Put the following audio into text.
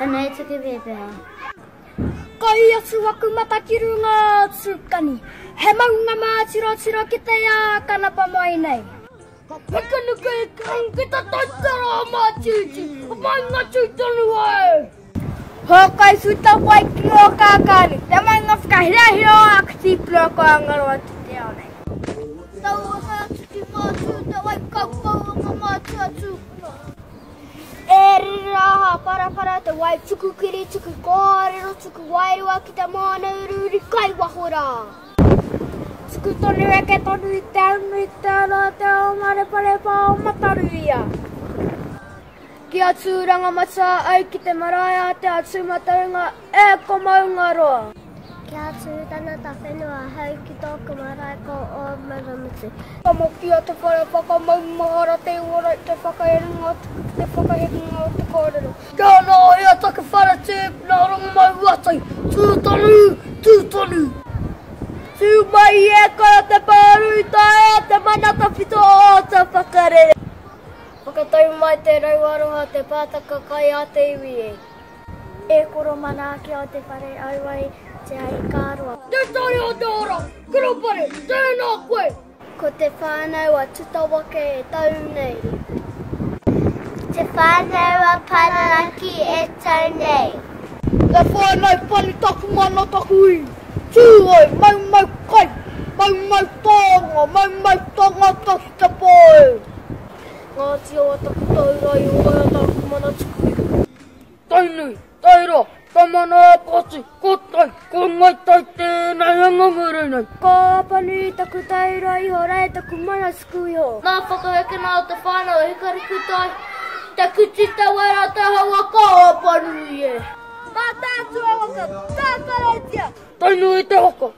Ana e tuku pēpeha. Kai atu aku mata ki runga atu kani. He maunga mā tiro tiro ki te ā kanapa mai nei. Ka pakanuku e kau ki te taitara a Mātiti. Ka painga tū tonu au. Ho kai futa wai ki o kākāni. Te maunga whakahiahia o aku tīpuna ko Angaroa ki te ao nei. Tau ana atu ki Mātū te wai kaukau o ngā mātua tūpuna. E rere rā aha parapara te wai tuku kiri tuku kōrero tuku wairua ki te moana uriuri kai waho rā tuku tonu eke tonu i te au nui te ora o te ao mareparepa o Mataruia ki a tūranga matua ai ki te marae a te a tūmataunga E ko Maungaroa! Kia tū tana tawhenua ahau ki tōku marae ko Ōmaramutu. Ka mōhio te whare whakamaumahara te uara i te whakaerenga tuku ki te whakahekenga o te kōrero. Kia ora, e a taku whare tē, nā Rongomauatai, tū tonu, tū tonu. Tū mai e kore te pāru i taea te mana tawhito o te whakarere. Whakatau mai te rau aroha, te pātaka kai a te iwi e. E koro mana ake au te whare aua i te aikaroa. Te tari o te ora, Kurupare, tēnā koe! Ko te whānau a Tutawake e tau nei. Te whānau a Pararaki e tau nei. Te whānau pani taku mana taku i. Tū oi, mau mau kai, mau mau taonga, mau mau tangata ki te pō e. Ngāti Awa taku taurai, Ōea taku mana tuku i. Tainui, Taira, Tamanaapati, ko tai, ko ngai tai tēnei anga ngere nei. Ko Apanui taku tairoa iho, Rae taku mana suku iho. Nā whakahekena o te whānau e Hikarikutai, te kuti te wera te hawa ka Apanui e. Mātaatua waka, ka Karaitiana. Tainui te waka,